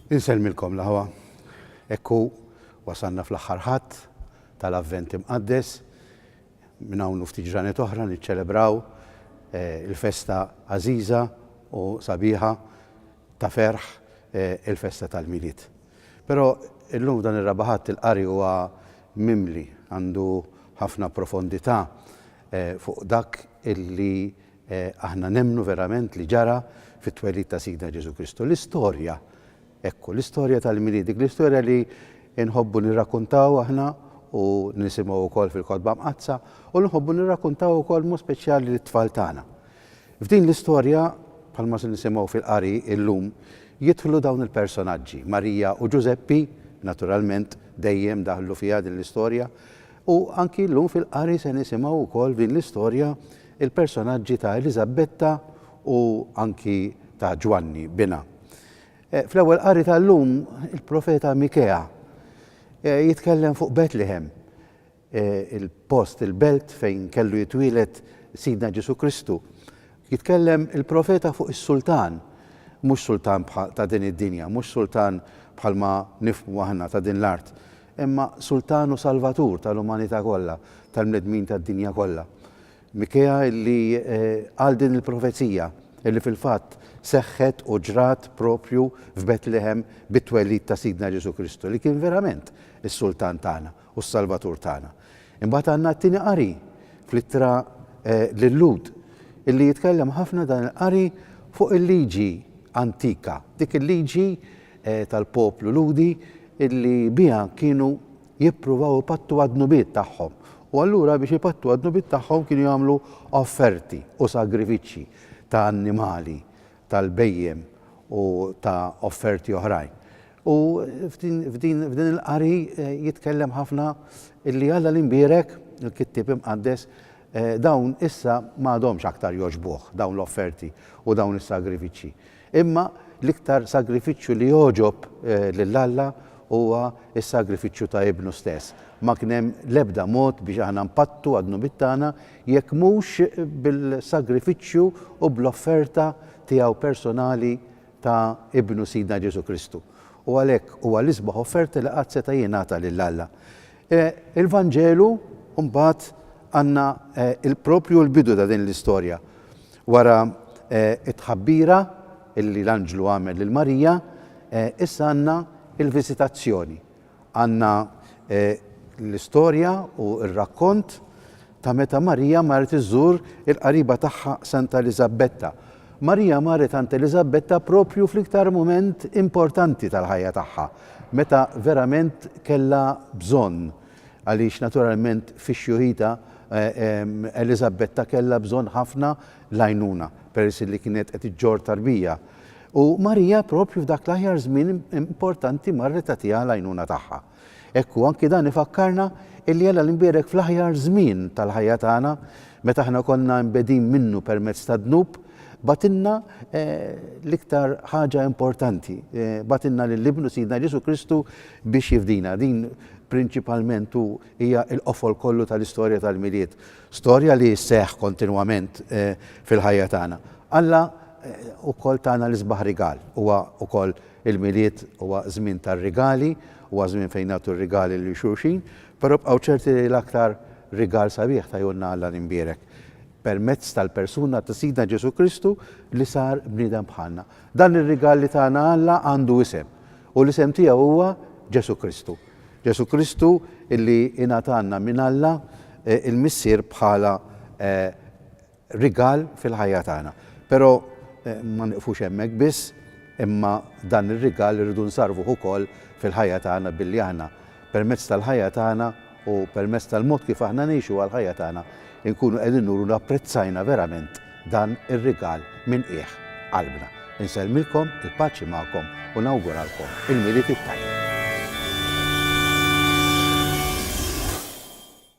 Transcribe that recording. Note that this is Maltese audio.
Insellmilkom l-aħwa. Hekk hu wasalna fl-aħħar Ħadd tal-Avvent Imqaddes. Minn hawn u ftit ġranet oħra niċċelebraw il-festa għażiża u sabiħa ta' ferħ, il-festa tal-Milied. Però illum f'dan ir-Raba' Ħadd il-qari huwa mimli, għandu ħafna profondità fuq dak li aħna nemmnu verament li ġara fit-twelid ta' Sidna Ġesù Kristu. L-istorja, hekk hu, l-istorja tal-Milied, dik l-istorja li nħobbu nirrakkuntaw aħna u nisimgħu wkoll fil-Kotba Mqaddsa u li nħobbu nirrakkuntaw ukoll b'mod speċjali lit-tfal tagħna. F'din l-istorja, bħalma se nisimgħu fil-qari illum, jidħlu dawn il-personaġġi, Marija u Ġużeppi, naturalment, dejjem daħlu fiha din l-istorja, u anki llum fil-qari se nisimgħu wkoll f'din l-istorja l-personaġġi ta' Eliżabbetta u anki ta' Ġwanni, binha. Fl-ewwel qari tal-lum, il-profeta Mikea jitkellem fuq Betlehem, il-post, il-belt fejn kellu jitwieled Sidna Ġesù Kristu. Jitkellem il-profeta fuq is-sultan, mhux sultan ta' din id-dinja, mhux sultan bħalma nifhmu aħna ta' din l-art, imma sultan u salvatur tal-umanità kollha, tal-bnedmin tad-dinja kollha. Mikea li qal din il-profezija, li fil-fatt seħħet u ġrat proprju f'Betlehem bit-twelid ta' Sidna Ġesù Kristu, li kien verament is-sultan tagħna. u s-Salvatur tagħna. Imbagħad għandna t-tieni qari fl-Ittra lil-Lhud, illi jitkellem ħafna dan il-qari fuq il-liġi antika, dik il-liġi tal-poplu Lhudi illi biha kienu jippruvaw ipattu għad-dnubiet tagħhom. U allura biex ipattu għad-dnubiet tagħhom kienu jagħmlu offerti u sagrifiċċji ta' annimali tal-bhejjem u ta' offerti oħrajn. U f'din il-qari jitkellem ħafna illi Alla l-imbierek, il-kittieb imqaddes, dawn issa m'għadhomx aktar jogħġbuh dawn l-offerti u dawn is-sagrifiċċji. Imma l-iktar sagrifiċċju li jogħġob lil Alla huwa s-sagrifiċċju ta' Ibnu stess. Ma kien hemm l-ebda mod biex aħna npattu għad-dnubiet tagħna jekk mhux bil-sagrifiċċju u bl-offerta tiegħu personali ta' Ibnu Sidna Ġesù Kristu. U għalhekk huwa l-isbaħ offerta li qatt seta' jingħata lil Alla. Il-Vanġelu mbagħad għandna proprju l-bidu ta' din l-istorja. Wara t-tħabbira li l-anġlu għamel lil Marija, issa għandna l-viżitazzjoni. Għandna l-istorja u r-rakkont ta' meta Marija marret iżżur il-qariba tagħha Santa Eliżabbetta. Marija marret għand Eliżabbetta proprju fl-iktar mument importanti tal-ħajja tagħha, meta verament kellha bżonn, għaliex naturalment fix-xjuħitha Eliżabbetta kellha bżonn ħafna l-għajnuna peress li kienet qed iġġorr tarbija. U Marija proprju f'dak l-aħjar żmien importanti marret tagħtiha l-għajnuna tagħha. Hekk hu anki dan ifakkarna illi Alla l-Imbierek fl-aħjar żmien tal-ħajja tagħna, meta aħna konna imbegħdin minnu permezz tad-dnub, bagħtilna l-iktar ħaġa importanti, bagħtilna lil Ibnu Sidna Ġesù Kristu biex jifdina. Din prinċipalment hu hija l-qofol kollu tal-istorja tal-Milied. Storja li sseħħ kontinwament fil-ħajja tagħna. Alla wkoll tana l-isbaħ rigal. Huwa wkoll il-Milied huwa żmien tar-rigali, huwa żmien fejn nagħtu r-rigali lil xulxin, però bqgħu ċerti li l-aktar rigal sabiħ tajulna Alla l-Imbierek permezz tal-persuna ta' Sidna Ġesù Kristu li sar bniedem bħalna. Dan ir-rigal li tana Alla għandu isem u l-isem tiegħu huwa Ġesù Kristu. Ġesù Kristu li ingħatalna minn Alla l-Missier bħala rigal fil-ħajja tagħna. Però ma nieqfux hemmhekk biss, imma dan ir-rigal irridu nsarrfuh ukoll fil-ħajja tagħna billi aħna permezz tal-ħajja tagħna u permezz tal-mod kif aħna ngħixuha l-ħajja tagħna nkunu qegħdin nuru li apprezzajna verament dan ir-rigal minn qiegħ qalbna. Insellmilkom, il-paċi magħkom u nawguralkom il-Milied it-tajjeb.